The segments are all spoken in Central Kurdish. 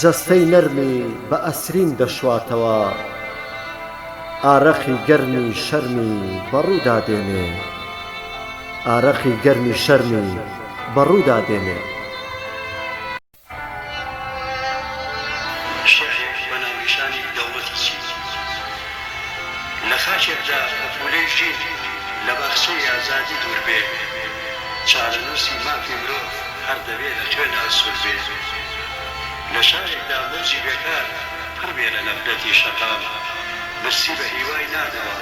جەستەی نەرمی بە ئەسرین دەشواتەوە ئارەقی گەرمی شەرمی بەڕوودا دێنێ ئارەقی گەرمی شەرمی بەڕوودا دێنێ. شێعرێک بە ناونیشانی دەوڵەتی چین لە خاکێکدا پەپوولەی ژین لە باخچەی ئازادی دووربێ چارەنووسی مافی مرۆڤ، هەر دەبێ لە خوێن ئاسوود بێ. لە شارێکدا مەرجی بێکار پڕ بێ لە نەفرەتی شەقام، برسی بە هیوای نانەوە،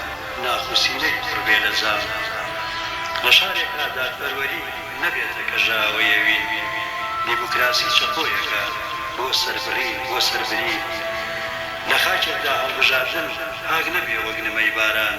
ناخوسینەی پڕ بێ لە زام. لە شارێکا دادپەروەری نەبێتە کەژاوەیەوی، دیموکراسی چەقۆیەکە بۆ سەربڕین، بۆ سەربرین. لە خاکێکدا هەڵبژاردن پاک نەبێ وەک نمەی باران.